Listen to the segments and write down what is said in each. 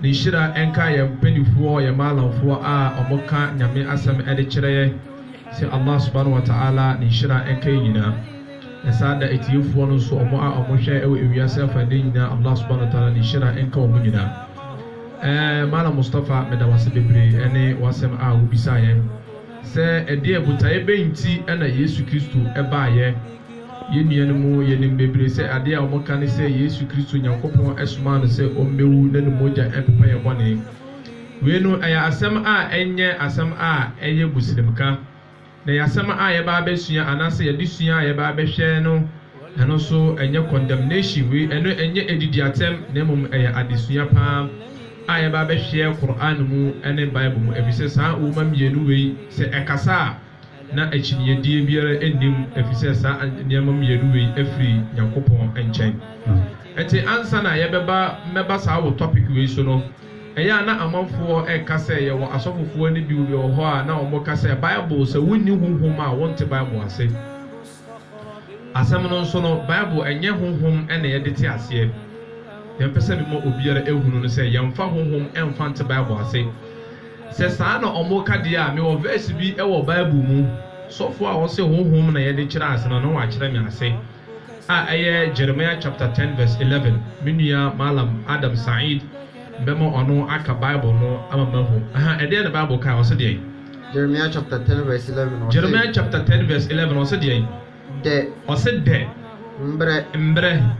Ne nhyira nka yɛn mpaninfoɔ, yɛn maalamfoɔ a wɔn ka Nyame asɛm de kyerɛ yɛ, sɛ Allah Subahana Wata'ala ne nhyira nka yɛn nyinaa. Na saa da atiefoɔ no nso, wɔn a wɔn hwɛ wɔ ewiase afa nnan nyinaa, Allah Subahana Wata'ala ne nhyira nka wɔn nyinaa. Ɛɛ, Maalam Mustafa, meda wo ase bebree ɛne w'asɛm a wo bisaa yɛn sɛ ɛdeɛ botaeɛ bɛn nti na Yesu Kristo baa yɛ? Yɛn nuanom, yɛnim bebree sɛ adeɛ a wɔka ne sɛ Yesu Kristo Nyankopɔn somaa no sɛ ɔmmɛwu na ne mogya mpepa yɛn bɔne. Wei no, ɛyɛ asɛm a ɛnyɛ asɛm a ɛyɛ Muslimka, na ɛyɛ asɛm a yɛba abɛsua anaasɛ yɛde sua a yɛba abɛhwɛ no, ɛno nso ɛnyɛ condemnation, wei ɛno ɛnyɛ adidiatɛm na mmom ɛyɛ adesua pa ara a yɛba abɛhwɛ Qur'aan mu ne Bible mu, ɛfiri sɛ saa nwoma mmienu wei sɛ ɛkasa a, na akyinnyedie biara nni mu ɛfiri sɛ saa nneɛma mmienu wei firi Nyankopɔn nkyɛn. Ɛte ansa na yɛbɛba mmɛba saa wo topic wei so no, ɛyɛ a na amanfoɔ reka sɛ yɛwɔ asɔfofoɔ no bi wɔ hɔ a na wɔka sɛ Bible sɛ wonni honhom a wonte Bible ase. Asɛm no nso no, Bible ɛnyɛ honhom na yɛde te aseɛ. Yɛmpɛ sɛ mema obiara ɛhunu no sɛ yɛmfa honhom mfa nte Bible ase. Sɛ saa na wɔreka deɛ a, mewɔ verse bi wɔ Bible mu, sɔfoɔ a ɔse honhom na yɛde kyerɛ ase no, na wakyerɛ me ase, a ɛyɛ Jeremiah chapter ten verse eleven. Me nua Mallam Adam Saeed, mɛma ɔno aka Bible no ama mahu. Aha, ɛdeɛn na Bible kae? Ɔse deɛn? Jeremiah chapter ten verse eleven ɔse. Jeremiah chapter ten verse eleven ɔse deɛn? Dɛ. Ɔse dɛ. Mbrɛ. Mbrɛ.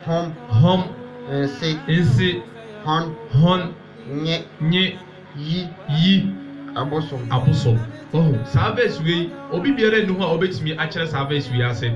Hom. Hom. Nse. Nse. Hɔn. Hɔn. Nye. Nye. Yi. Yi. Abosom. Abosom. Wahu? Saa verse wei, obi biara nni hɔ a obetumi akyerɛ saa verse wei ase,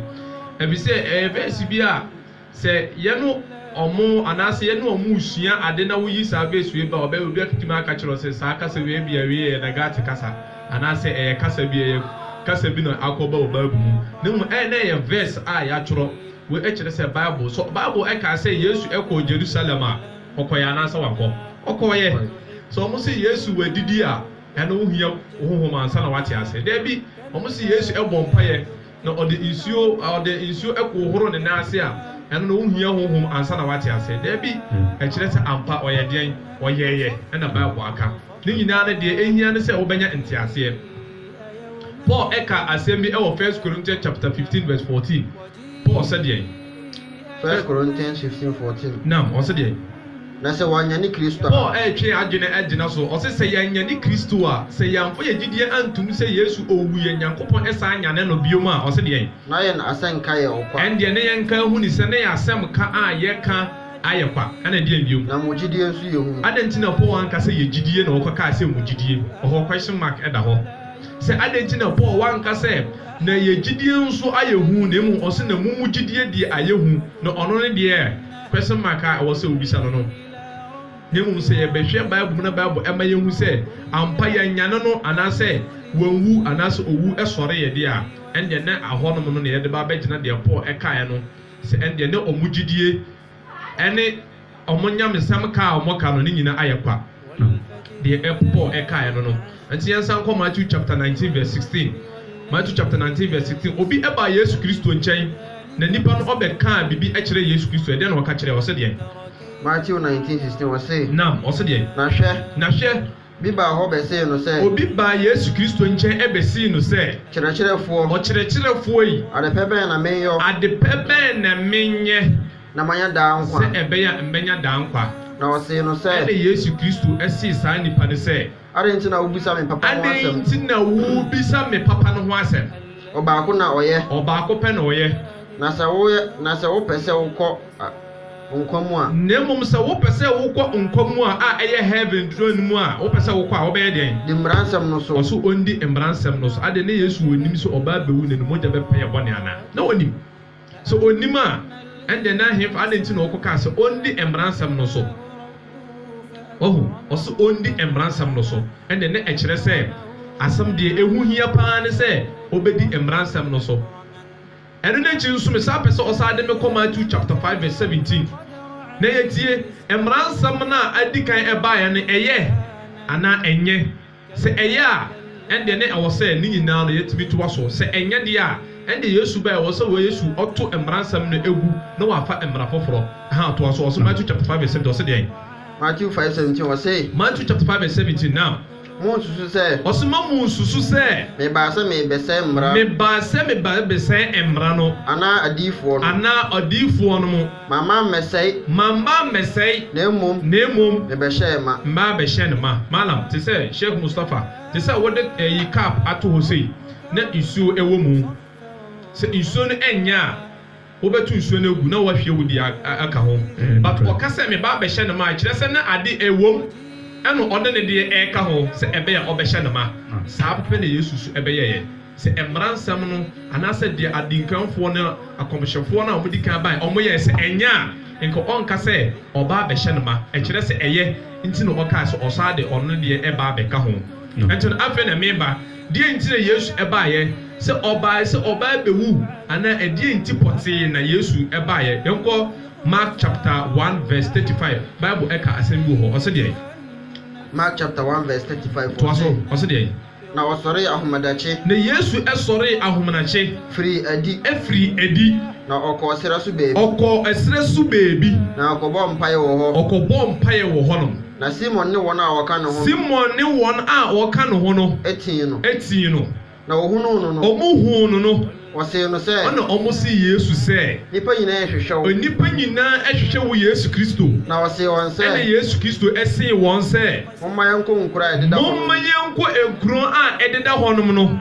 efisɛ ɛyɛ verse bi a. Sɛ yɛne wɔn anaasɛ yɛne wɔn resua ade na woyi saa vɛɛsi wei ba a, ɔbɛ, obi atumi aka akyerɛ wo sɛ saa kasa wei ebia wei yɛ Nagate kasa anaasɛ ɛyɛ kasa bi, ɛyɛ kasa bi na akɔba wɔ Bible mu. Na mmom ɛyɛ na ɛyɛ vɛɛsi a yɛatwerɛ. Wei kyerɛ sɛ Bible, sɛ Bible kaa sɛ Yesu kɔɔ Jerusalem a, ɔkɔeɛ anaasɛ wankɔ? Ɔkɔeɛ. Sɛ wɔse Yesu wadidi a, ɛno wohia honhom ansa na woate aseɛ? Dabi. Wɔse Yesu bɔɔ mpaeɛ. Na ɔde nsuo ɔde nsuo ɛkoo horo ne nan ase a, ɛno na ɔnhia honhom ansa na wate aseɛ? Daabi, ɛkyerɛ sɛ ampa ɔyɛ deɛn? Ɔyɛeɛ, ɛna Bible aka. Ne nyinaa no deɛ ɛhia ne sɛ wobɛnya nteaseɛ. Paul ɛkaa asɛm bi ɛwɔ First Corinthians chapter fifteen verse fourteen. Paul sɛ deɛn? First Corinthians fifteen fourteen. Naam, ɔse deɛn? Na sɛ wɔanyane Kristo a. Paul retwe adwene agyina so. Ɔse, sɛ yɛanyane Kristo a, sɛ yɛamfa yɛn gyidie antom sɛ Yesu owuiɛ, Nyankopɔn san nyanee no biom a, ɔse deɛn? Na yɛn asɛnka yɛ ɔkwa. Ɛndeɛ ne yɛn nka huni sɛ ne yɛn asɛm ka a yɛka ayɛ kwa, ɛna ɛdeɛn biom? Na mo gyidie nso yɛ hunu. Adɛn nti na Paul anka sɛ yɛn gyidie na ɔkɔkaa sɛ mo gyidie? Ɔhɔ question mark da hɔ. Sɛ adɛn nti na Paul wanka sɛ na yɛn gyidie nso ayɛ hu na mmom ɔse na mo mo gyidie deɛ ayɛ hu, na ɔno ne deɛ. Question mark a ɛwɔ sɛ wobisa no no, na mmom sɛ yɛbɛhwɛ Bible mu na Bible ɛma yɛhu sɛ ampa yɛanyane no anaasɛ wanwu anaasɛ owu sɔreeɛ deɛ a, ɛnneɛ na ahɔnom no na yɛde ba abɛgyina deɛ Paul ɛkaeɛ no sɛ ɛnneɛ na wɔn gyidie ne wɔn nyamesɛm ka a wɔka no ne nyina ayɛ kwa. no ho. Deɛ ɛp Paul ɛkaeɛ no no. Ɛnti yɛnsan nkɔ Matthew chapter nineteen verse sixteen. Matthew chapter nineteen verse sixteen. Obi ɛbaa Yesu Kristo nkyɛn na nipa no ɔbɛ kaa bibi ɛkyerɛɛ Yesu Kristo. Ɛdeɛn na ɔka kyerɛɛ? Ɔse deɛn? Matthew nineteen sixteen ɔse. Naam, ɔse deɛn? Na hwɛ. Na hwɛ. Bi baa hɔ bɛsee no sɛ. Obi baa Yesu Kristo nkyɛn ɛbɛsee no sɛ. Kyerɛkyerɛfoɔ. Ɔkyerɛkyerɛfoɔ yi. Adepɛ bɛn na menyɔ? Adepɛ bɛn na menyɛ? Na manya daa nkwa. Sɛ ɛbɛyɛ a mɛnya daa nkwa. Na wɔsee no sɛ. Ɛnna Yesu Kristo see saa nnipa no sɛ. Adɛn nti na wobisa me papa ho asɛm? Adɛn nti na wobisa me papa no ho asɛm? Ɔbaako na ɔyɛ. Ɔbaako pɛ na ɔyɛ. Na sɛ woyɛ, na sɛ wopɛ sɛ wokɔ nkwa mu a. Na mmom sɛ wopɛ sɛ wokɔ nkwa mu a, a ɛyɛ heaven turo no mu a, wopɛ sɛ wokɔ a, wobɛyɛ deɛn? Di mmara nsɛm no so. Ɔse ɔndi mmara nsɛm no so. Adɛn, na Yesu ɔnim sɛ ɔba abɛwu na ne mogya bɛpɛ yɛn bɔne anaa? Na ɔnim. Sɛ onnim a, ɛnneɛ na ɛhefa, adɛn nti na ɔkɔkaa sɛ ɔndi mmara nsɛm no so? Wahu? Ɔse ɔndi mmara nsɛm no so, ɛnneɛ na ɛkyerɛ sɛ asɛm deɛ ɛho hia pa ara ne sɛ ɔbɛdi mmara nsɛm no so. Ɛno no akyi nso mesan pɛ sɛ ɔsan de me kɔ Matthew chapter five verse seventeen na yɛtie mmara nsɛm no a adi kan ɛbaeɛ no, ɛyɛ anaa ɛnyɛ? Sɛ ɛyɛ a, ɛnde na ɛwɔ sɛ ne nyinaa no yetumi toa so. Sɛ ɛnyɛ de a, ɛnde yɛn su bɛn? Ɛwɔ sɛ wɔ yɛn su ɔto mmara nsɛm no gu na wɔafa mmara foforo. Ɛha toa so, ɔse Matthew chapter five verse seventeen, ɔse deɛn? Matthew five seventeen, ɔse. Matthew chapter five verse seventeen, now. Mo nsusu sɛ. Ɔse mma mo nsusu sɛ. Me baa sɛ me rebɛsɛe mmara. Me baa sɛ me ba rebɛsɛe mmara no. Anaa adiyifoɔ no. Anaa adiyifoɔ no mo. Mamma mmɛsɛe. Mamma mmɛsɛe. Na mmom. Na mmom. Mebɛhyɛɛ ma. Mabɛhyɛ no ma. Malam te sɛ Sheikh Mustafa te sɛ wode ɛyi cup ato hɔ sei na nsuo ɛwɔ mu sɛ nsuo no ɛnyɛ a wobɛto nsuo no agu na wahwie wo deɛ aka ho but ɔka sɛ me ba bɛhyɛ no ma ɛkyerɛ sɛ na ade ɛwɔ mu ɛna ɔde ne deɛ ɛka ho sɛ ɛbɛyɛ a ɔbɛhyɛ no ma saa pɛpɛ na Yesu nso ɛbɛyɛɛ. Sɛ mmara nsɛm no anaasɛ deɛ adinkanfoɔ ne akɔmhyɛfoɔ no a wɔdi kan baeɛ no wɔyɛeɛ, sɛ ɛnyɛ a, nka ɔnka sɛ ɔba abɛhyɛ no ma. Ɛkyerɛ sɛ ɛyɛ nti na ɔkae sɛ ɔsan de ɔno deɛ ba abɛka ho. Ɛnti no, afei na me ba, deɛn nti na Yesu baeɛ? Sɛ ɔbaeɛ sɛ ɔba abɛwu anaa ɛdeɛn nti pɔtee na Yesu baeɛ? Yɛnkɔ Mark chapter one verse thirty five, Bible ka asɛm bi wɔ hɔ, ɔse deɛn? Mark chapter one verse thirty five, ɔse. Toa so, ɔse deɛn? Na ɔsɔree ahomadakye. Na Yesu sɔree ahomadakye. Firii adi. Firii adi. Na ɔkɔɔ serɛ so baabi. Ɔkɔɔ serɛ so baabi. Na ɔkɔbɔɔ mpaeɛ wɔ hɔ. Ɔkɔbɔɔ mpaeɛ wɔ hɔnom. Na Simon ne wɔn a wɔka ne ho no. Simon ne wɔn a wɔka ne ho no. Tee no. Tee no. Na wɔhunuu no no. Wɔhuu no no. Wɔsee no sɛ. Ɛnna wɔsee Yesu sɛ. Nnipa nyinaa rehwehwɛ wo. Nnipa nyinaa rehwehwɛ wo Yesu Kristo. Na ɔsee wɔn sɛ. Ɛnna Yesu Kristo see wɔn sɛ. Momma yɛnkɔ nkuro a ɛdeda hɔnom. Momma yɛnkɔ nkuro a ɛdeda hɔnom no.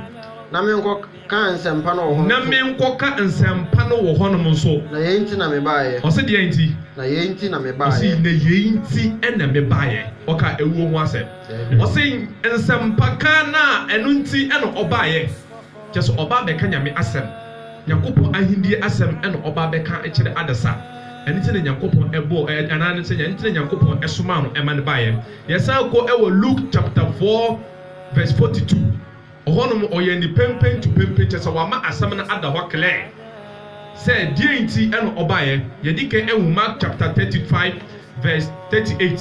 Na menkɔka nsɛmpa no wɔ hɔnom nso. Na menkɔka nsɛmpa no wɔ hɔnom nso. Na yei nti na mebaeɛ. Ɔse deɛn nti? Na yei nti na mebaeɛ. Ɔse na yei nti na mebaeɛ. Ɔkaa awuo ho asɛm. Ɔse nsɛmpaka no a ɛno nti na ɔbaeɛ. Kyerɛ sɛ ɔba abɛka Nyame asɛm, Nyankopɔn ahendie asɛm na ɔba abɛka akyerɛ adasa. Ɛno nti na Nyankopɔn bɔɔ, anaa ɛno nti na Nyankopɔn somaa no ma no baeɛ. Yɛsan kɔ wɔ Luke chapter four verse forty two, ɔhɔ nom ɔyɛɛ no penpen to penpen, kyerɛ sɛ wama asɛm no ada hɔ clear sɛ deɛn nti na ɔbaeɛ. Yɛdi kan nhu Mark chapter thirty five verse thirty eight.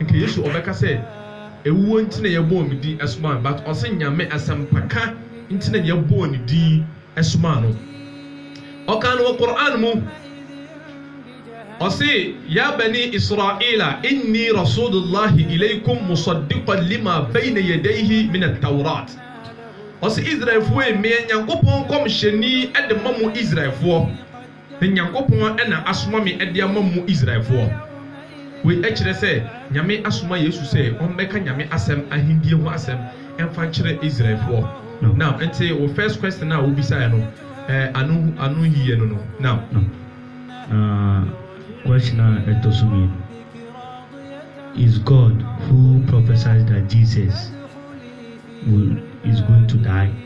Nka Yesu ɔbɛka sɛ ewuo nti na yɛbɔɔ me din ɛsomaa me but ɔse Nyame asɛmpaka nti na yɛbɔɔ ne din ɛsomaa no. Ɔkaa no wɔ Qur'aan mu ɔse Ya banii Israila innii Rasuulullaahi ilaykum musaddiqan lima bayna yadayhi mina Tawraat. Ɔse Israelfoɔ ei meyɛ Nyankopɔn nkɔmhyɛni de ma mo Israelfoɔ. Me Nyankopɔn na asoma me de ama mo Israelfoɔ. Wei kyerɛ sɛ Nyame asoma Yesu sɛ ɔmmɛka Nyame asɛm, ahendie ho asɛm, mfa nkyerɛ Israelfoɔ. Now, nti wo first question a wobisaeɛ no, eh, ano, ano nhiyɛ no no. Now. No. Na question a ɛtɔ so mmienu, Is God who prophesied that Jesus will, is going to die?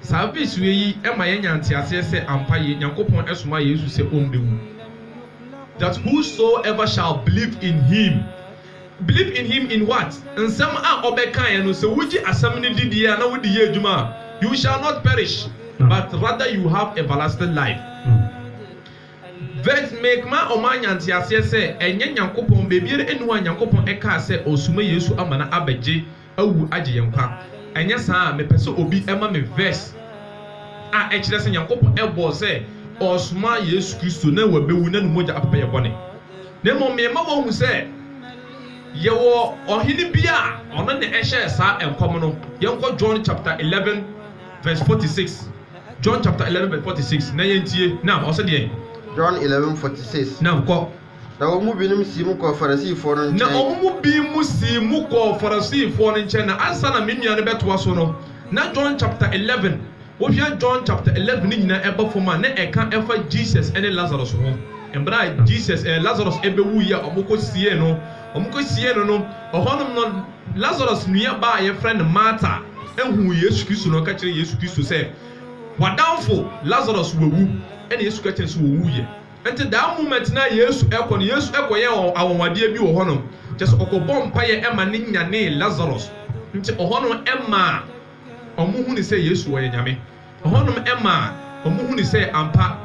Saa bisua yi ma yɛnya nteaseɛ sɛ ampa yei Nyankopɔn somaa Yesu sɛ ɔmbɛwu that whosoever shall believe in him Believe in him in what? Nsɛm a ɔbɛkaeɛ no sɛ wogye asɛm no di die a na wode yɛ adwuma a you shall not perish but rather you have everlasting life Vs make ma ɔma anya nteaseɛ sɛ ɛnyɛ Nyankopɔn baabiara nni hɔ a Nyankopɔn kaa sɛ ɔsoma Yesu ama no abɛgye awu agye yɛn nkwa. Anyɛ saa a, mepɛ sɛ obi ma me verse a ɛkyerɛ sɛ Nyankopɔn bɔɔ sɛ ɔresoma Yesu Kristo na wabewu na ne mogya apepa yɛn bɔne. Na mmom mema woahu sɛ yɛwɔ ɔhene bi a ɔno na ɛhyɛɛ saa nkɔm no. Yɛnkɔ John chapter eleven verse forty six. John chapter eleven verse forty six. Na yɛntie. Naam, ɔse deɛn? John eleven forty six. Naam, kɔ. Na wɔn mu binom sii mu kɔɔ Farisifoɔ no nkyɛn. Na wɔn mu binom sii mu kɔɔ Farisifoɔ no nkyɛn. Na ansa na me nua no bɛtoa so no, na John chapter eleven, wohwɛ John chapter eleven no nyinaa ɛba fam a, na ɛka ɛfa Jesus ne Lazarus ho. Mmerɛ a Jesus, ɛɛ, Lazarus ɛbɛwuiɛ a, wɔkɔsiee no, wɔkɔsiee no no, ɛhɔnom no, Lazarus nuabaa a yɛfrɛ no Martha huu Yesu Kristo, na ɔka kyerɛɛ Yesu Kristo sɛ, W'adamfo Lazarus wawu. Ɛnna Yesu ka kyerɛɛ no sɛ, Ɔwuiɛ. Enti daa mu mmɛtena a Yesu kɔ no, Yesu kɔyɛɛ anwanwadeɛ bi wɔ hɔnom, kyerɛ sɛ, ɔkɔbɔɔ mpaeɛ ma no nyanee Lasaros. Enti ɛhɔnom maa wɔhunuu sɛ Yesu ɔyɛ Nyame. Ɛhɔnom maa wɔhunuu sɛ ampa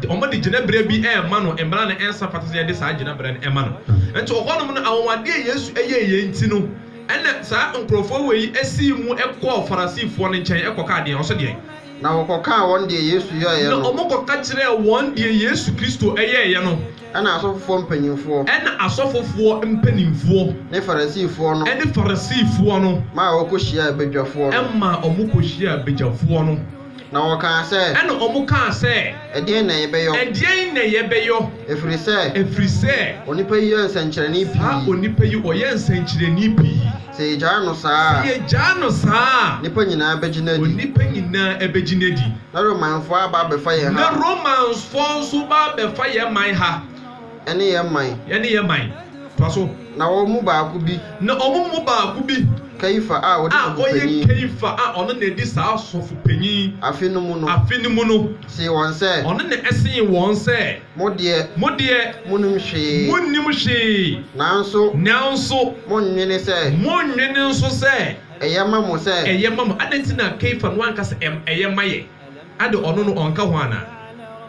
wɔde gyinaberɛ bi rema no, mmara no nsa fata sɛ yɛde saa gyinaberɛ no ma no. Enti ɛhɔnom no, anwanwadeɛ a Yesu yɛeɛ nti no, ɛna saa nkorɔfoɔ wei sii mu kɔɔ Farisifoɔ no nkyɛn kɔkaa deɛn? Ɔse deɛn? Na wɔkɔkaa wɔn deɛ Yesu yɛeɛ no. Na wɔkɔka kyerɛɛ wɔn deɛ Yesu Kristo yɛeɛ no. Ɛnna asɔfofoɔ mpanimfoɔ. Ɛnna asɔfofoɔ mpanimfoɔ. Ne Farisifoɔ no. Ne Farisifoɔ no. Maa wɔkɔhyiaa badwafoɔ no. Maa wɔkɔhyiaa badwafoɔ no. Na wɔkaa sɛ. Ɛnna wɔkaa sɛ. Ɛdeɛn na yɛbɛyɔ? Ɛdeɛn na yɛbɛyɔ? Ɛfiri sɛ. Ɛfiri sɛ. Onipa yi yɛ nsɛnkyerɛnne pii. Saa onipa yi, ɔyɛ nsɛnkyerɛnne pii. Sɛ yegyaa no saa a. Sɛ yegyaa no saa a. Nnipa nyinaa begyina adi. Nnipa nyinaa begyina adi. Na Romanfoɔ aba abɛfa yɛn ha. Na Romanfoɔ nso ba abɛfa yɛn man ha. Ɛne yɛn man. Ɛne yɛn man. Toa so. Na wɔn mu baako bi. Na wɔn mu baako bi. Kaifa a ɔde sɔfo panyin. A ɔyɛ Kaifa a ɔno na edi saa sɔfo panyin. Afe no mu no. Afe no mu no. See wɔn sɛ. Ɔno na see wɔn sɛ. Mo deɛ. Mo deɛ. Monim hwee. Monnim hwee. Nanso. Nanso. Monnwene sɛ. Monnwene nso sɛ. Ɛyɛ ma mo sɛ. Ɛyɛ ma mo. Adɛn nti na Kefa no anka sɛ ɛm, ɛyɛ ma yɛ? Ade ɔno no ɔnka ho anaa?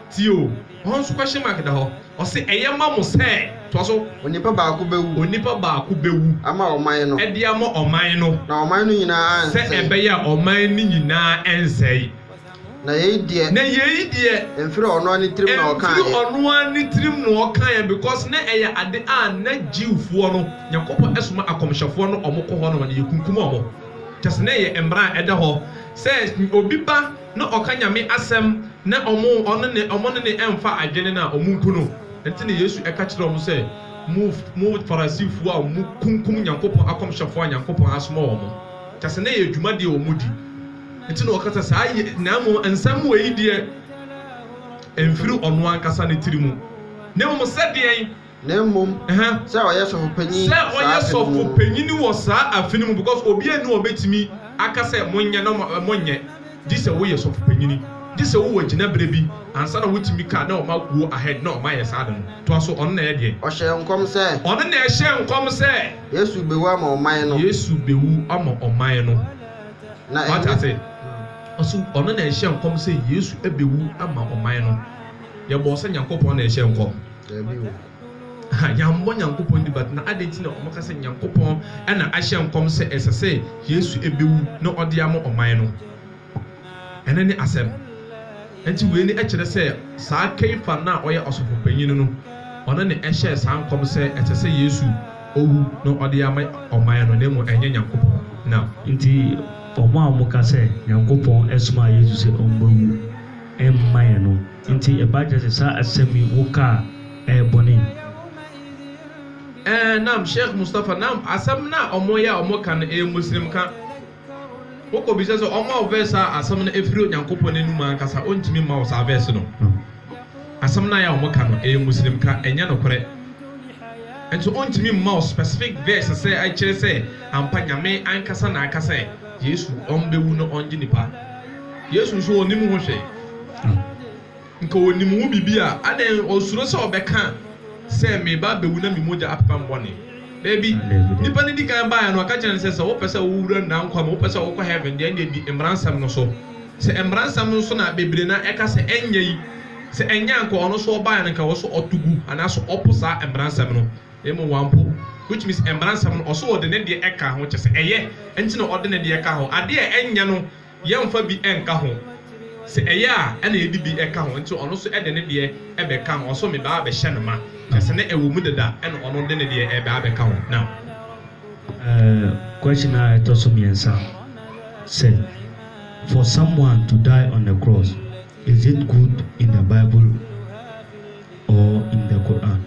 Tie o, hɔ nso question mark da hɔ. Ɔse ɛyɛ ma mo sɛ. Toa so. Onipa baako bɛwu. Onipa baako bɛwu. Ama ɔman no. De ama ɔman no. Na ɔman no nyinaa ansɛe. Sɛ ɛbɛyɛ a ɔman no nyinaa nsɛe. Na yei deɛ. Na yei deɛ. Ɛmfiri ɔno ara ne tirim na ɔkaeɛ. Ɛmfiri ɔno ara ne tirim na ɔkaeɛ because na ɛyɛ ade a na Jewfoɔ no, Nyankopɔn soma akɔmhyɛfoɔ no wɔn kɔ hɔ nom na yɛkunkum wɔn. Kyerɛ sɛ na ɛyɛ mmara a ɛda hɔ sɛ obi ba na ɔka Nyame asɛm na wɔn ne wɔn ne no ɛmfa adwene no a, wɔnku no. Ɛnti na Yesu ɛka kyerɛɛ wɔn sɛ, Mo, mo Farisifoɔ a mokunkum Nyankopɔn akɔmhyɛfoɔ a Nyankopɔn asoma wɔn. Kyerɛ sɛ na ɛyɛ dwuma deɛ wɔn di. nti na ɔkasa saa ye, na mmom nsɛm wei deɛ ɛmfiri ɔno ankasa ne tiri mu, na mmom sɛ deɛn? Na mmom sɛ ɔyɛ sɔfopanyin saa afe no mu. Sɛ ɔyɛ sɔfopanyin wɔ saa afe no mu, because obiara nni hɔ a ɔbɛtumi aka sɛ monyɛ na monyɛ, gye sɛ woyɛ sɔfopanyin, gye sɛ wowɔ gyinaberɛ bi ansa na wotumi ka na wɔma go ahead na wɔayɛ saa ade no. Toa so, ɔno na ɛyɛ deɛn? Ɔhyɛɛ nkɔm sɛ. Ɔno na ɛhyɛɛ nkɔm sɛ. Yesu bewu ama ɔman no. Yesu bewu ama ɔman no. Moate ase? Ɔse ɔno na ɛhyɛɛ nkɔm sɛ Yesu bɛwu ama ɔman no. Yɛbɔɔ sɛ Nyankopɔn na ɛhyɛɛ nkɔm? Daabi o. Aha, yɛammɔ Nyankopɔn din but na adɛn nti na wɔka sɛ Nyankopɔn na ahyɛ nkɔm sɛ ɛsɛ sɛ Yesu bɛwu na ɔde ama ɔman no? Ɛno ne asɛm. Enti wei ne ɛkyerɛ sɛ saa Kaifa no a ɔyɛ ɔsɔfo panyin no, ɔno ne ɛhyɛɛ saa nkɔm sɛ ɛsɛ sɛ Yesu owu na ɔde ama ɔman no na mmom ɛnyɛ Nyankopɔn. Na. Enti wɔn a wɔka sɛ Nyankopɔn somaa Yesu sɛ ɔmmɛwu mma yɛn no, enti ɛba kyerɛ sɛ saa asɛm yi wo ka a ɛyɛ bɔne? Ɛɛ, na'am, Sheikh Mustapha, na'am, asɛm no a wɔyɛ a wɔka no ɛyɛ Muslimka. Wokɔbisa sɛ ɔmma wo verse a asɛm no firi Onyankopɔn anom ankasa a, ɔntumi mma wo saa verse no. Asɛm no a ɛyɛ a wɔka no, ɛyɛ Muslim ka, ɛnyɛ nokorɛ. Nso ɔntumi mma wo specific verse sɛ ɛkyerɛ sɛ ampa Nyame ankasa na aka sɛ Yesu ɔmbɛwu na ɔngye nnipa. Yesu nso ɔnnim ho hwee. Nka onim ho biribi a, adɛn ɔsuro sɛ ɔbɛka sɛ, Mereba abɛwu na me mogya apepam bɔne? Dabi. Nnipa no di kan baeɛ no, wɔka kyerɛɛ no sɛ, Sɛ wopɛ sɛ wowura nnaa nkwa mu, wopɛ sɛ wokɔ heaven deɛ, ɛnneɛ di Mmara nsɛm no so. Sɛ Mmara nsɛm no so na bebree no ara ɛka sɛ ɛnyɛ yi, sɛ ɛnyɛ a anka ɔno nso ɔbaeɛ no anka ɛwɔ sɛ ɔto gu anaasɛ ɔpo saa Mmara nsɛm no. Na mmom wampo. Which means Mmara nsɛm no, ɔse ɔde ne deɛ ɛka ho, kyerɛ sɛ ɛyɛ nti na ɔde ne deɛ ka ho. Adeɛ a ɛnyɛ no, Yɛmfa bi nka ho. Sɛ ɛyɛ a, ɛna yɛde bi ka ho. Enti ɔno nso de ne deɛ bɛka ho. Ɔso meba abɛhyɛ no ma. Kyerɛ sɛ na ɛwɔ mu dada, ɛna ɔno de ne deɛ reba abɛka ho. Now. Question a ɛtɔ so mmiɛnsa sɛ, For someone to die on the cross, is it good in the Bible or in the Quran?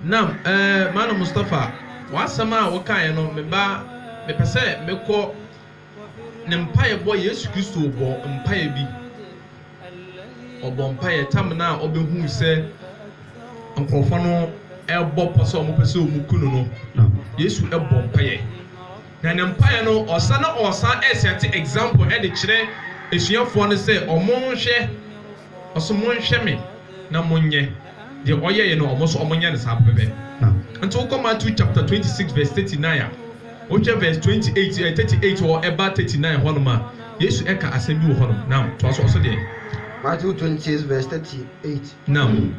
Nam, eh, Malam Mustapha, w'asɛm a wokaeɛ no, meba, mepɛ sɛ mekɔ. Ne mpaebɔ, Yesu Kristo bɔɔ mpaeɛ bi. Ɔbɔɔ mpaeɛ tam no a ɔbɛhuu sɛ nkurɔfoɔ no rebɔ pɔ sɛ wɔpɛ sɛ wɔku no no, Yesu bɔɔ mpaeɛ. Na ne mpaeɛ no, ɔsan na ɔsan sɛte example de kyerɛ asuafoɔ no sɛ wɔnhwɛ Ɔse monhwɛ me na monyɛ deɛ ɔyɛeɛ no, ɔmo nso wɔnyɛ no saa pɛpɛpɛ. Nti wokɔ Matthew chapter twenty six verse thirty nine a, wohwɛ verse twenty eight, ɛɛ thirty eight hɔ ɛba thirty nine hɔnom a, Yesu ɛka asɛm bi wɔ hɔnom. Naam, toa so, ɔse deɛn? Matthew twenty six verse thirty eight, Naam.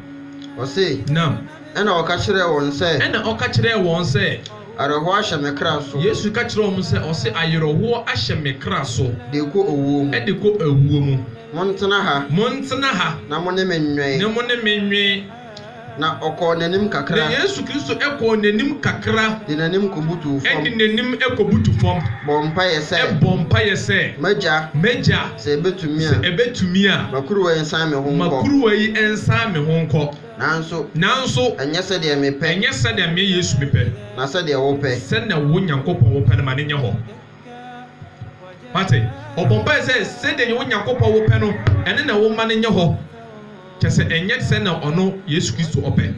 ɔse. Naam. Ɛnna ɔka kyerɛɛ wɔn sɛ. Ɛnna ɔka kyerɛɛ wɔn sɛ. Awerɛhoɔ ahyɛ me kra so. Yesu ka kyerɛɛ wɔn sɛ. Ɔse, Awerɛhoɔ ahyɛ me kra so. De kɔ owuo mu. De kɔ awuo mu. Montena ha. Montena ha. Na mo ne me nnwen. Na mo ne me nnwen. Na ɔkɔɔ n'anim kakra. Na Yesu Kristo kɔɔ n'anim kakra. De n'anim kɔbutuu fam. De n'anim kɔbutu fam. Bɔɔ mpaeɛ sɛ. Bɔɔ mpaeɛ sɛ. M'Agya. M'Agya. Sɛ ɛbɛtumi a. Sɛ ɛbɛtumi a. Ma kuruwa yi nsan me ho nkɔ. Ma kuruwa yi nsan me ho nkɔ. Nanso, Nanso, ɛnyɛ sɛdeɛ mepɛ. ɛnyɛ sɛdeɛ me, Yesu, mepɛ. Na sɛdeɛ wopɛ. Sɛdeɛ wo, Nyankopɔn, wopɛ no, ma no nyɛ hɔ. Wate? Ɔbɔ mpaeɛ sɛ, Sɛdeɛ wo, Nyankopɔn, wopɛ no, ɛno na wo ma no nyɛ hɔ. Kyerɛ sɛ, ɛnyɛ sɛdeɛ ɔno, Yesu Kristo, ɔpɛ.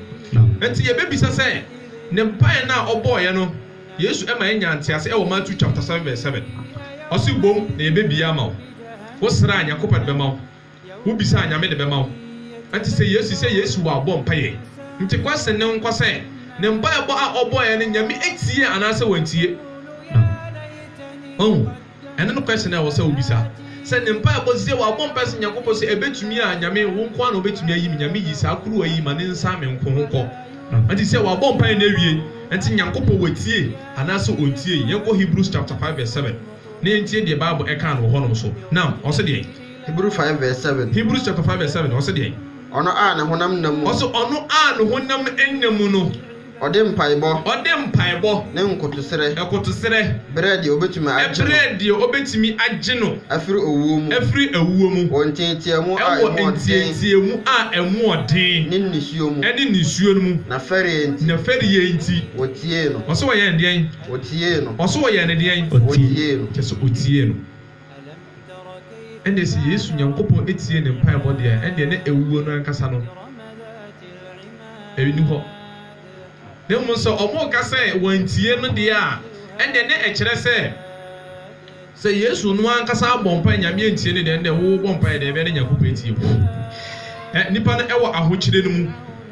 Enti yɛbɛbisa sɛ, ne mpaeɛ no a ɔbɔeɛ no, Yesu ma yɛnya nteaseɛ wɔ Matthew chapter seven verse seven. Ɔse, Bom na yɛbɛbie ama wo. Wo srɛ a, Nyankopɔn de bɛma wo. Wo bisa a Nyame de bɛma wo. Ɛte sɛ Yesu sɛ Yesu wa bɔ mpaeɛ. Nti question no nkɔ sɛ ne mpaebɔ a ɔbɔeɛ no Nyame atie anaasɛ wantie. Wahu? Ɛno ne question a ɛwɔ sɛ wo bisa. Sɛ ne mpaebɔ sɛ wabɔ mpaeɛ sɛ Nyankopɔn sɛ ɛbɛtumi a Nyame wo nko ara na wobɛtumi ayi me Nyame yi saa kuruwa yi ma ne nsa me nko ho nkɔ. Ɛte sɛ wabɔ mpaeɛ no awie. Ɛnti Nyankopɔn watie anaasɛ ɔntiei. Yɛnkɔ Hebrews chapter five verse seven na yɛntie deɛ bible ɛkaa no wɔ hɔnom so. Nam, ɔse deɛn? Hebrew five verse seven. Hebrews chapter five verse seven ɔse deɛn? Ɔno a ne honam nna mu no. Ɔse ɔno a ne honam nna mu no. Ɔde mpaebɔ. Ɔde mpaebɔ. Ne nkotosrɛ. Nkotosrɛ. Brɛ deɛ ɔbɛtumi agye no. Ɛbrɛ deɛ ɔbɛtumi agye no. Afiri owuo mu. Afiri awuo mu. Wɔ nteateamu a ɛmu ɔden. Ɛwɔ nteateamu a ɛmu ɔden. Ne nisuo mu. Ɛne nisuo no mu. Na fɛreɛ nti. Na fɛreɛ nti. Wɔtiee no. Ɔse wɔyɛɛ no deɛn? Wɔtiee no. Ɔse wɔyɛɛ no deɛn? Wɔtiee no. Kyerɛ sɛ wɔtiee no. Ɛnneɛ sɛ Yesu Nyankopɔn tiee ne mpaebɔ deɛ a, ɛnneɛ na awuo no ankasa no nni hɔ. Na mmom sɛ wɔreka sɛ wɔantie no deɛ a, ɛnneɛ na ɛkyerɛ sɛ, sɛ Yesu no ankasa abɔ mpaeɛ Nyame antie no deɛ, ɛnneɛ wobɔ mpaeɛ deɛ, ɛbɛyɛ na Nyankopɔn atie wo. Ɛ, nnipa no wɔ ahokyerɛ no mu,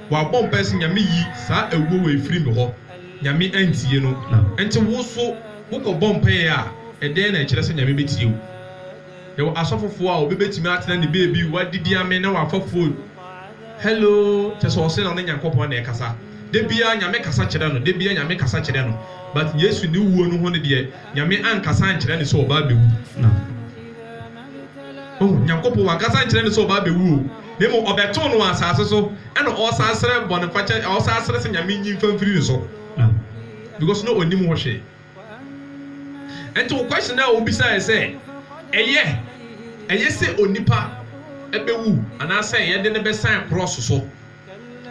wɔabɔ mpaeɛ sɛ, Nyame yi saa awuo wei firi me hɔ, Nyame antie no. Ɛnti wo nso. Wokɔbɔ mpae a, ɛdɛn na ɛkyerɛ sɛ Nyame betie wo? Yɛwɔ asɔfofo a obi betumi atena ne baabi, wadidi amee na wafa fon, Hello, kyerɛ sɛ ɔse na ɔne Nyankopɔn na ɛkasa. Da biara Nyame kasa kyerɛ no, da biara Nyame kasa kyerɛ no. But Yesu ne wuo no ho no deɛ, Nyame ankasa ankyerɛ no sɛ ɔba abɛwu. Oho, Nyankopɔn wankasa ankyerɛ no sɛ ɔba abɛwu o, na mmom ɔbɛtoo no wɔ asase so, ɛna ɔresan srɛ bɔnefakyɛ, ɔresan srɛ sɛ Nyame nyi mfa mfiri ne so. because na ɔnnim ho hwee. Ɛnti wo question a wobisaeɛ sɛ ɛyɛ ɛyɛ sɛ onipa bɛwu anaasɛ yɛde no bɛsan krɔɔso so,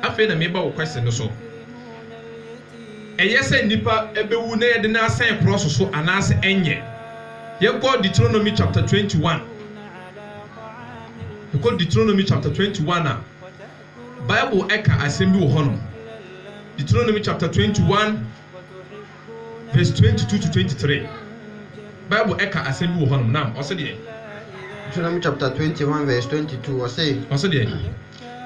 afei na meba wo question no so. Ɛyɛ sɛ nnipa bɛwu na yɛde no asan krɔɔso so anaasɛ ɛnyɛ? Yɛkɔ Deuteronomy chapter twenty one, yɛkɔ Deuteronomy chapter twenty one a, Bible ka asɛm bi wɔ hɔnom, Deuteronomy chapter twenty one verse twenty two to twenty three. Bible ka asɛm bi wɔ hɔnom, nam ɔsɛ deɛ. Deuteronomy chapter twenty one verse twenty two, ɔsɛ. Ɔsɛ deɛ.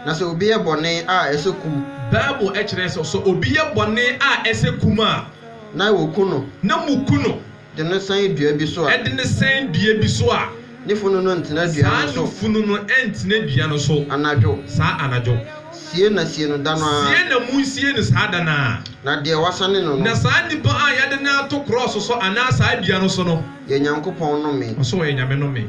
Na sɛ obi yɛ bɔne a ɛsɛ kum. Bible kyerɛ sɛ, sɛ obi yɛ bɔne a ɛsɛ kum a. Na wɔku no. Na wɔku no. De no sɛn dua bi so a. Ɛde no sɛn dua bi so a. Ne funu no ntena dua no so. Saa ne funu no ntena dua no so. Anadwo. Saa anadwo. Sie na sie no da no ara. Sie na monsie no saa da no ara. Na deɛ wɔasane no no. Na saa nipa a yɛde no ato krɔɔso so anaa saa dua no so no. Yɛ Nyankopɔn nnome. Ɔsɛ ɔyɛ Nyame nnome.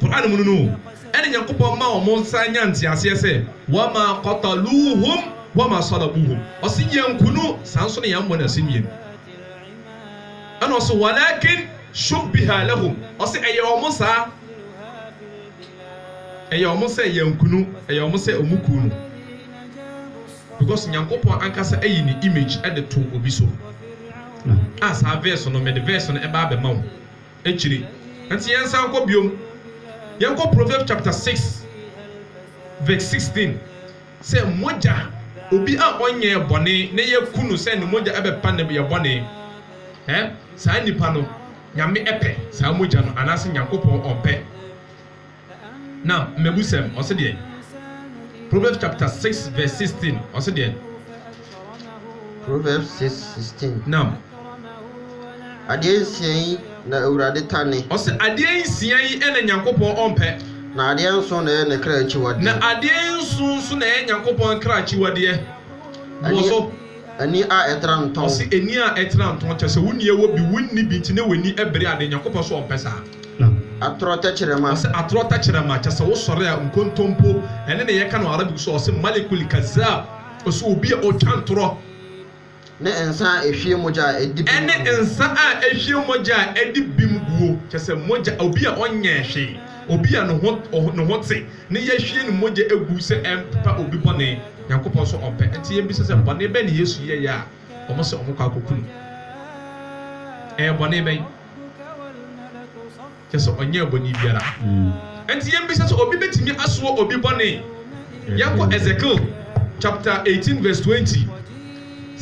Qur'aan mu no no o, ɛne Nyankopɔn mma wɔn nsan nya nteaseɛ sɛ, Wamaa qataluuhum wamaa salabuuhum, Ɔse yɛanku no, saa nso na yɛammɔ no asɛnnua mu. Ɛna ɔse, Walaakin shubbiha lahum, Ɔse ɛyɛ wɔn saa, ɛyɛ wɔn sɛ yɛanku no, ɛyɛ wɔn sɛ wɔn kuu no. Because Nyankopɔn ankasa ayi ne image de too obi so. A saa verse no, mede verse no bɛa bɛma wo. akyire. Ɛnti yɛnsan nkɔ biom, yɛnkɔ Proverbs chapter six verse sixteen, sɛ mogya, obi a ɔnyɛɛ bɔne na yɛaku no sɛ ne mogya bɛpa ne yɛ bɔne, ɛ, saa nipa no, Nyame pɛ saa mogya no anaase Nyankopɔn ɔmpɛ? Now, mmebusɛm, ɔse deɛn? Proverbs chapter six verse sixteen, ɔse deɛn? Proverbs six sixteen. Now. Adeɛ nsia yi na Awurade tane. Ɔse adeɛ nsia yi na Nyankopɔn ɔmpɛ. Na adeɛ nson na ɛyɛ ne kra akyiwadeɛ. Na adeɛ nson nso na ɛyɛ Nyankopɔn kra akyiwadeɛ. Boɔ so. Ani a ɛtra ntɔn. Ɔse ani a ɛtra ntɔn kyerɛ sɛ wonni ɛwɔ bi, wonni bi nti na w'ani bere adeɛ. Nyankopɔn so ɔmpɛ saa. na. Atorɔ tɛkyerɛma. Ɔse atorɔ tɛkyerɛma, kyɛsɛ wo sɔre a nkontompo ɛne ne yɛka no Arabic so a ɔse malikul kazab, ɔse obi a ɔtwa ntorɔ. Ne nsa a ɛhwie mogya a ɛdi bem guo. Ɛne nsa a ɛhwie mogya a ɛdi bem guo, kyɛsɛ mogya, obi a ɔnyɛɛ hwee, obi a ne ho, ne ho te, ne yahwie ne mogya agu sɛ ɛmpepa obi bɔne, Nyankopɔn nso ɔmpɛ, ɛnti yɛbisa sɛ bɔne bɛn na Yesu yɛeɛ a wɔse wɔkɔ akɔku no? Ɛyɛ bɔne bɛn? Kyerɛ sɛ ɔnyɛɛ bɔne biara. Enti yɛmmisa sɛ obi betumi asoa obi bɔne? Yɛnkɔ Ezekiel chapter eighteen verse twenty.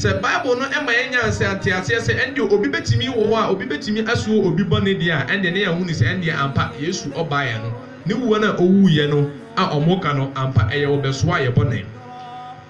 Sɛ Bible no ma yɛnya nteaseɛ sɛ ɛnde obi betumi wɔ hɔ a obi betumi asoa obi bɔne deɛ a, ɛnde na yɛahu no sɛ ɛnde ampa Yesu ɔbaeɛ no ne wuo no a owuiɛ no a wɔka no, ampa ɛyɛ ɔbɛsoaa yɛn bɔne.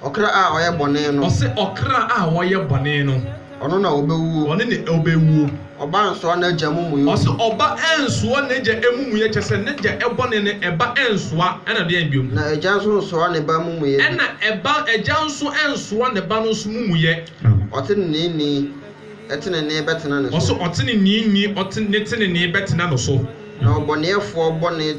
Ɔkra a ɔyɛ bɔne no. Ɔse ɔkra a ɔyɛ bɔne no. Ɔno na ɔbɛwuo. Ɔno na ɔbɛwuo. Ɔba nsoa n'agya amumuyɔ. Ɔse ɔba nsoa n'agya amumuyɔ, kyerɛ sɛ n'agya bɔne no ɛba nsoa, ɛna ɔdeɛn biom? Na agya nso nsoa ne ba amumuyɛ bi. Ɛna ɛba, agya nso nsoa ne ba no nso mumuyɛ. Ɔteneneeni, tenenee bɛtena ne so. Ɔse ɔteneneeni, ne tenenee bɛtena no so. Na ɔbɔneɛfoɔ bɔne.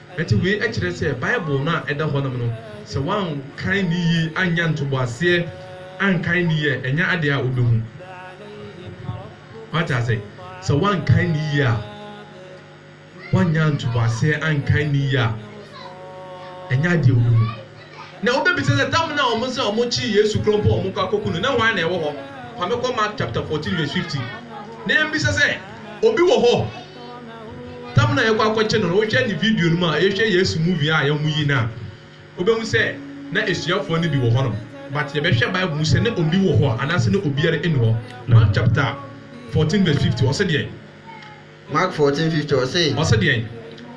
Enti wei kyerɛ sɛ Bible no a ɛda hɔnom no, sɛ wɔankan no yiye, annya ntoboaseɛ ankan no yiye a, ɛnyɛ adeɛ a wobɛhu. Moate ase? Sɛ wɔankan no yiye a, wɔannya ntoboaseɛ ankan no yiye a, ɛnyɛ adeɛ a wobɛhu. Na wobebisa sɛ, Da mo no a wɔn sɛ wɔn kyee Yesu korɔ mpo a wɔn kɔ akɔku no, na hwan na ɛwɔ hɔ? Fa me kɔ Mark chapter fourteen verse fifty. Na yɛn bisa sɛ, Obi wɔ hɔ? Da mo no a yɛkɔ akɔkye no no, wohwɛ ne video no mu a, yɛhwɛ Yesu movie a wɔn yi no a, wobehu sɛ na asuafoɔ no bi wɔ hɔ nom. But yɛbɛhwɛ Bible mu sɛ na obi wɔ hɔ a, anaasɛ na obiara nni hɔ. Mark chapter fourteen verse fifty, ɔse deɛn? Mac. Fourteen fifty, ɔse. Ɔse deɛn?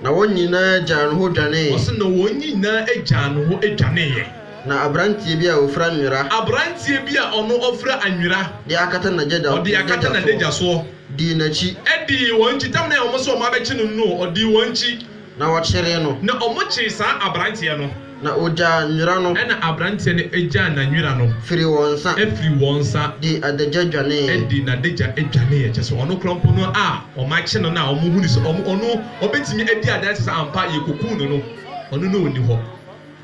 Na wɔn nyinaa gyaa no hɔ dwaneeɛ. Ɔse na wɔn nyinaa gyaa no hɔ dwaneeɛ. Na aberanteɛ bi a ɔfira nwera. Aberanteɛ bi a ɔno ɔfira anwera. De akata n'agya da. Ɔde akata n'adagya soɔ. Dii n'akyi. Dii wɔn akyi. Tam no a wɔn se wɔn abɛkye no no, ɔdii wɔn akyi. Na wɔkyeree no. Na wɔkyeree saa aberanteɛ no. Na wɔgyaa nwera no. Ɛnna aberanteɛ no gyaa n'anwera no. Firii wɔn nsa. Firii wɔn nsa. Dii adagya dwaneeɛ. Dii n'adagya dwaneeɛ. Kyerɛ sɛ, ɔno koraa mpo no a wɔakye no no a wɔhunu sɛ ɔno ɔbɛtumi adi adanse sɛ ampa yɛkɔkuu no no, ɔno na ɔnni hɔ.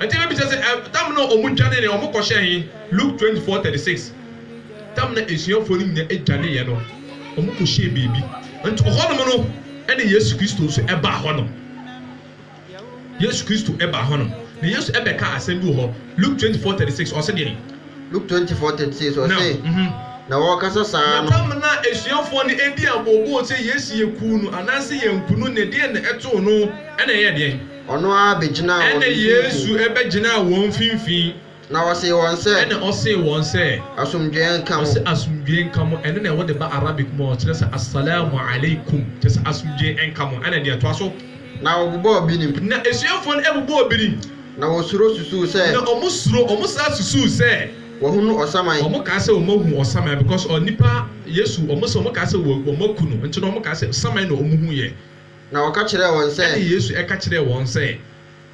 Enti mebisa sɛ, ɛ, tam no a wɔdwanee no, wɔkɔhyɛɛ he? Luke twenty four thirty six, Tam no a asuafoɔ no nyinaa dwaneeɛ no, wɔkɔhyɛɛ baabi. Nti hɔnom no na Yesu Kristo nso baa hɔnom. Yesu Kristo baa hɔnom, na Yesu bɛkaa asɛm bi wɔ hɔ, Luke twenty four thirty six, ɔse deɛn? Luke twenty four thirty six, Nam. ɔse, Mhm. Na wɔrekasa saa Na no. tam no a asuafoɔ no dii abooboo sɛ Yesu yɛ kuu no anaasɛ yɛanku no no, deɛn na ɛtoo no na ɛyɛɛ deɛn? Ɔno ara begyinaa wɔn Ɛnna mfimfini. Yesu bɛgyinaa wɔn mfimfini. Na ɔsee wɔn sɛ. Ɛnna ɔsee wɔn sɛ. Asomdwoeɛ nka mo. Ɔse, Asomdwoeɛ nka mo. Ɛno na wɔde ba Arabic mu a wɔkyerɛ sɛ, As-salaamu alaikum, kyerɛ sɛ, Asomdwoeɛ nka mo. Ɛnna deɛ ɛtoa so. Na wɔbobɔɔ binim. Na asuafoɔ no bobɔɔ binim. Na wɔsuro susuu sɛ. Na wɔsuro, wɔsan susuu sɛ. Wɔahunu ɔsaman. Wɔkaa sɛ wɔahu ɔsaman because ɔnipa, Yesu, wɔse wɔkaa sɛ wɔaku no, nti no wɔkaa sɛ saman na wɔhuiɛ. Na ɔka kyerɛɛ wɔn sɛ. Ɛnna Yesu ka kyerɛɛ wɔn sɛ.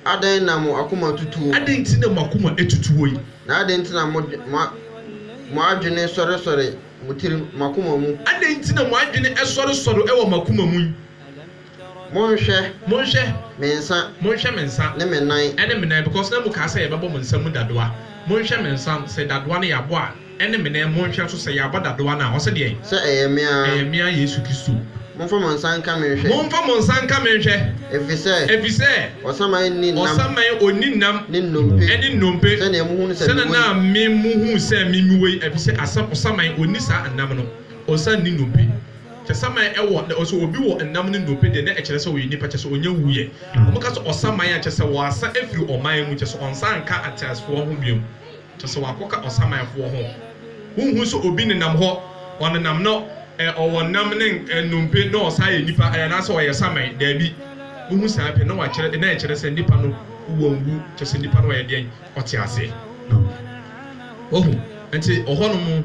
Adɛn na mo akoma atutuo mo? Adɛn nti na mo akoma atutuo yi? Na adɛn nti na mo, mo, mo adwene sɔresɔre mo tirim, mo akoma mu. Adɛn nti na mo adwene sɔresɔre wɔ mo akoma mu yi? Monhwɛ. Monhwɛ. Me nsa. Monhwɛ me nsa. Ne me nan. Ne me nan, because na mokaa sɛ yɛbɛbɔ mo nsa mu dadoa. Monhwɛ me nsa, sɛ dadoa no yɛabɔ a, Ɛne me ne monhwɛ nso sɛ yɛabɔ dadoa no a, ɔse deɛn? Sɛ ɛyɛ me ara. Ɛyɛ me ara Yesu Kristo. Momfa mo nsa nka me nhwɛ. Momfa mo nsa nka me nhwɛ. Efisɛ. Efisɛ. Ɔsaman nni nam. Ɔsaman ɔnni nam. Ne nnompe. Ɛne nnompe. Sɛnea mohu no sɛ mewɔ yi. Sɛnea na me mohu sɛ me mewɔ yi, efisɛ asam, ɔsaman ɔnni saa nnam no, ɔsan nni nnompe. Sɛ saman ɛwɔ, na ɔsɛ obi wɔ nnam ne nnompe deɛ, na ɛkyerɛ sɛ ɔyɛ nipa, kyerɛ sɛ ɔnya wuiɛ. Wɔka sɛ ɔsaman a, kyerɛ sɛ wɔasa afiri ɔman mu, kyerɛ sɛ ɔnsan nka ateasefoɔ ho biom. Kyerɛ sɛ wɔakɔka ɔsamanfoɔ ho. Wonhu sɛ obi nenam hɔ, ɔnenam no, ɛ, ɔwɔ nam ne nnompe na ɔsan yɛ nipa, ɛ, anaasɛ ɔyɛ saman? Daabi. Wohu saa pɛ, na wɔakyerɛ, na ɛkyerɛ sɛ nipa no wanwu. Kyerɛ sɛ nipa no ayɛ deɛn? Ɔte aseɛ. Wahu? Nti, ɔhɔnom.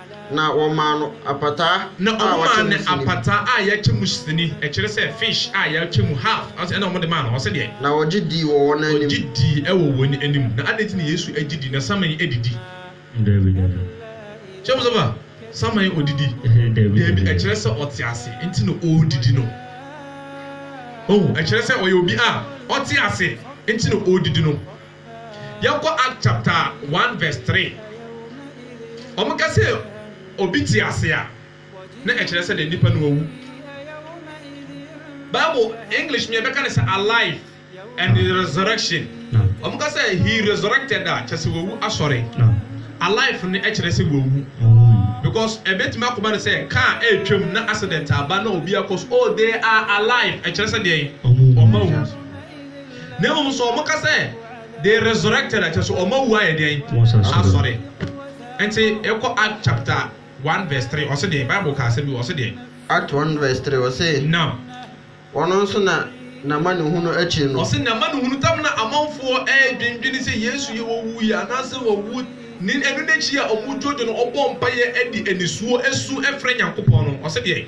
Na wɔmaa no apataa Na a wɔn wɔakyɛ maa mu no sini. apataa a yɛakyɛ mu sini, ɛkyerɛ sɛ, fish a yɛakyɛ mu half, ɔse, ɛna wɔde maa no, ɔse deɛ. Na wɔgye dii wɔ wɔn anim. Wɔgye dii wɔ wɔn anim. Na adɛn nti na Yesu gye dii na saman didi? Dabi, dabi. Kyɛ mo sɛ fa, saman ɔdidi? Dabi, dabi. Dabi, ɛkyerɛ sɛ ɔte ase nti na ɔredidi no. Ohu, ɛkyerɛ sɛ ɔyɛ obi a ɔte ase nti na ɔredidi no. Yɛnkɔ Act chapter one verse three. Wɔn ka sɛ obi te ase a, na ɛkyerɛ sɛ dɛ nipa no wawu. Bible English mea bɛka no sɛ alive and resurrection. Wɔn ka sɛ he resurrected a, kyerɛ sɛ wawu asɔre. Alive no ɛkyerɛ sɛ wawu because ɛbɛtumi akɔba no sɛ car ɛretwam na accident aba na obi akɔ so. Oh they are alive ɛkyerɛ sɛ deɛn? Wɔn awu. Na mmom nso wɔka sɛ they resurrected a kyerɛ sɛ wɔawu ayɛ dɛn? Asɔre. Nti yɛkɔ Act chapter one verse three ɔse deɛn? Bible ka asɛm bi wɔ hɔ ɔse deɛn? Act one verse three ɔse. Nam. Ɔno nso na n'amanehunu akyiri no. Ɔse n'amanehunu tam na amanfoɔ ɛredwendwene sɛ Yesu yɛ ɔwuiɛ anaasɛ wawu ne ɛno n'akyi a wɔdwoodwo no ɔbɔɔ mpaeɛ de anisuo su frɛ Nyankopɔn no ɔse deɛn?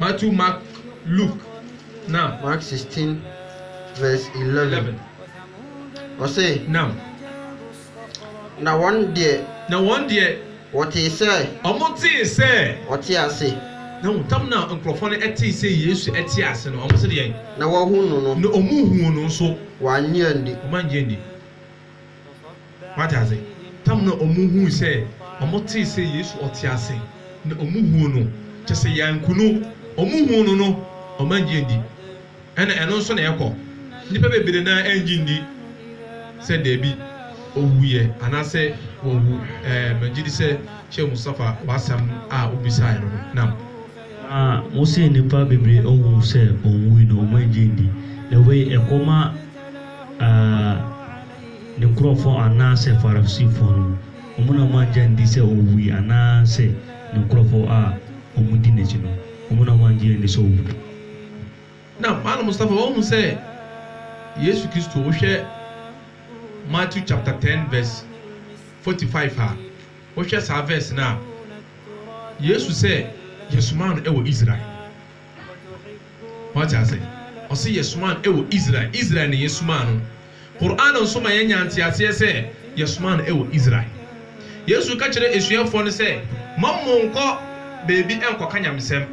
Matthew, Mark, Luke, nam. Mark sixteen verse eleven, ɔse. Nam. Na wɔn deɛ. Na wɔn deɛ. Wɔtee sɛ. Wɔn tee sɛ. Ɔte ase. Na wɔn tam na nkurɔfoɔ no tee sɛ Yesu te ase no, wɔn se deɛn? Na wɔahu no no. Na wɔn huu no nso. Wɔannye anni. Wɔn annye anni. Wate ase? Tam na wɔhui sɛ, wɔtee sɛ Yesu ɔte ase, na wɔhuu no, kyerɛ sɛ, yɛanku no, wɔhuu no no, wɔannye anni. Ɛna ɛno nso na ɛkɔ. Nnipa bebree no ara annye nni sɛ dabi, ɔwuiɛ, anaasɛ wawu. Ɛɛ, megye di sɛ Sheikh Mustafa, w'asɛm a wobisaeɛ no ho. Naam. Na wose nnipa bebree anhu sɛ ɔwui no, wɔannye anni. Na wei, ɛkɔ ma. Aa, ne nkurɔfoɔ anaasɛ Farisifoɔ no, wɔn na wɔanngye anndi sɛ Ɔwuui, anaasɛ ne nkurɔfoɔ a wɔdi N'akyi no, wɔn na wɔanngye anndi sɛ Ɔwuui? Na Malam Mustafa wahu sɛ Yesu Kristo, wohwɛ Matthew chapter ten verse forty five a, wohwɛ saa verse no a, Yesu sɛ yɛsomaa no wɔ Israel. Wate ase? Ɔse yɛsomaa no wɔ Israel. Israel na yɛsomaa no. Qur'aan nso ma yɛnya nteaseɛ sɛ yɛsomaa no wɔ Israel. Yesu ka kyerɛ asuafoɔ no sɛ, Mammo nkɔ baabi nkɔka nyamesɛm,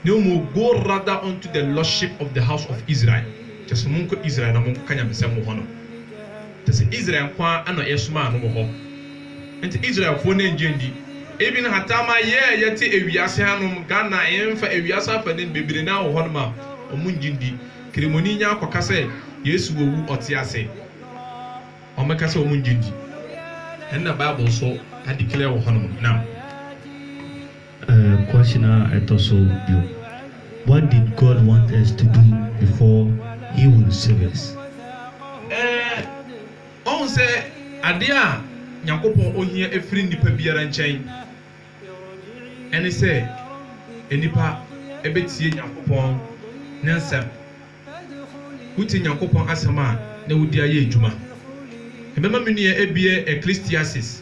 na mmom go rather unto the lordship of the house of Israel, kyerɛ sɛ monkɔ Israel na monkɔka nyamesɛm wɔ hɔnom. Te sɛ Israel nko ara na yɛsomaa no wɔ hɔ. Enti Israelfoɔ no nnye nni. Even Hatama yɛɛ yɛte ewiase hanom Ghana yɛmfa ewiase afade no bebree no ara wɔ hɔnom a wɔn nnye nni. Kremoni nya akɔka sɛ Yesu wɔ wu ɔte ase wɔn ka sɛ wɔn nnye nni. Ɛno na Bible nso adeclare wɔ hɔnom no. Nam. Uh, question a ɛtɔ so du, What did God want us to do before He would save us? Uh, ɔhu sɛ adeɛ a Nyankopɔn ohia ɛfiri nnipa biara nkyɛn ɛne sɛ nnipa ɛbɛtie Nyankopɔn Ne nsɛm. Wotie Nyankopɔn asɛm a na wode ayɛ adwuma. Ɛbɛma me nua ɛbiɛ ɛklistiasis.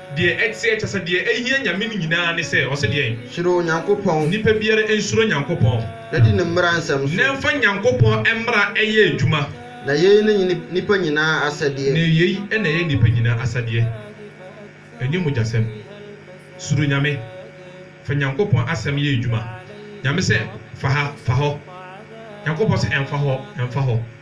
Deɛ ɛteɛ, kyerɛ sɛ, deɛ ɛhia Nyame no nyinaa ne sɛ ɔse deɛn? Suro Onyankopɔn. Nipa biara nsuro Nyankopɔn. Na di Ne mmara nsɛm so. Na mfa Nyankopɔn mmara yɛ adwuma. Na yei ne nnipa nyinaa asɛdeɛ. Na yei na ɛyɛ nnipa nyinaa asadeɛ, ɛnyɛ mogyasɛm. Suro Nyame. Fa Nyankopɔn asɛm yɛ adwuma. Nyame sɛ, Fa ha, fa hɔ. Nyankopɔn sɛ, Ɛmfa hɔ, ɛmfa hɔ.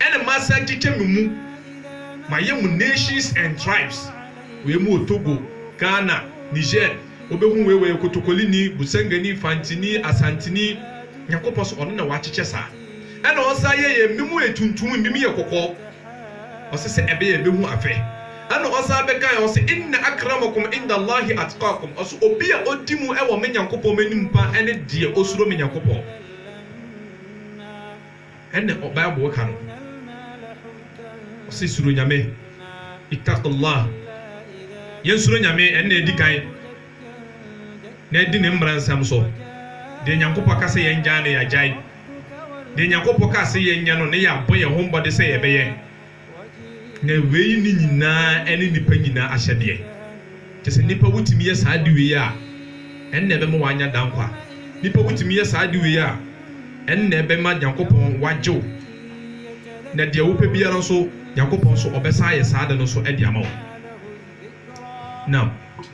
Ɛna masan kyekyɛ me mu mayɛ mo nations and tribes wei mo wɔ Togo, Ghana, Niger wobɛhu wei wɔyɛ Kotokolini, Busangani, Fantini, Asantini Nyankopɔn so ɔno na wakyekyɛ saa ɛna ɔsan yɛ yɛn bi mo yɛ tuntum ebi mo yɛ kɔkɔɔ ɔse sɛ ɛbɛyɛ yɛbɛhu afɛ ɛna ɔsan bɛka yɛn ɔse inna akramakum indallahi atqakum ɔse obi a odi mu ɛwɔ me Nyankopɔn m'anim paa ɛne deɛ osuro me Nyankopɔn. Ɛnna Bible ka no, ɔse, Suro Nyame, Ittaqullaah, yɛnsuro Nyame, ɛno na edi kan, na yɛdi Ne mmara nsɛm so. Deɛ Nyankopɔn ka sɛ yɛngyae no, yɛagyae. Deɛ Nyankopɔn ka se yɛnyɛ no, na yɛabɔ yɛn ho mmɔde sɛ yɛbɛyɛ. Na wei ne nyinaa ne nnipa nyinaa ahyɛdeɛ. Kyerɛ sɛ, nnipa wotumi yɛ saa ade wei a, ɛnna ɛbɛma wɔanya daa nkwa. Nnipa wotumi yɛ saa ade wei a, ɛnna ɛbɛma Nyankopɔn wagye wo. Na deɛ wopɛ biara nso, Nyankopɔn nso, ɔbɛsan ayɛ saa ade no nso de ama wo. Nam.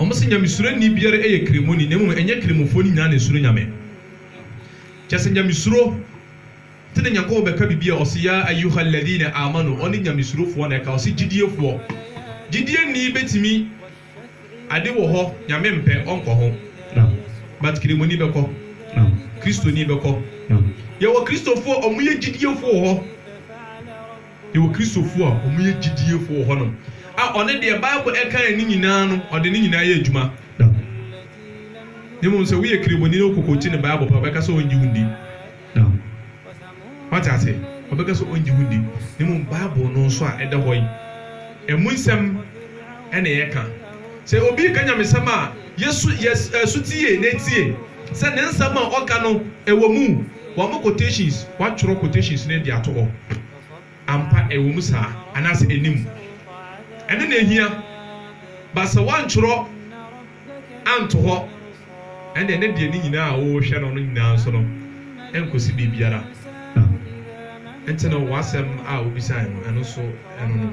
Ɔmo se Nyamesuro nni biara ɛyɛ kremoni na mmom ɛnyɛ kremofoɔ no nyinaa na ɛsuro Nyame. Kyerɛ sɛ Nyamesuro te ne Nyankopɔn bɛka biribi a ɔse Yaa Ayyuhal Ladhina Amanu ɔne Nyamesurofoɔ na ɛka ɔse Gyidiefoɔ. Gyidieni bɛtumi ade wɔ hɔ Nyame mpɛ ɔnkɔ ho but kremoni bɛkɔ, Kristoni bɛkɔ. Yɛwɔ Kristofoɔ a ɔmo yɛ gyidiefoɔ wɔ hɔ. Yɛwɔ Kristofo a wɔyɛ gyidiefo wɔ hɔnom a ɔne deɛ Bible kae no nyinaa no, ɔde ne nyinaa yɛ adwuma da. Na mmom sɛ woyɛ Kireboni na wokokoti ne Bible pɛ a, ɔbɛka sɛ ɔrennye wo nni. Da. Woate ase? Ɔbɛka sɛ ɔrennye wo nni. Na mmom Bible no nso a ɛda hɔ yi, ɛmu nsɛm na yɛka. Sɛ obi reka nyamesɛm a, yɛ so, yɛ so tie na tie. Sɛ ne nsɛm a ɔka no ɛwɔ mu wɔama quotations watwerɛ quotations no de ato hɔ ampa ɛwɔ mu saa anaasɛ ɛnni mu ɛno na ɛhia but sɛ wantwerɛ anto hɔ ɛnneɛ ne deɛ ne nyinaa a wohwɛ no no nyinaa nso no ɛnkɔsi baabiara nti no w'asɛm a wobisae no ɛno nso ɛno no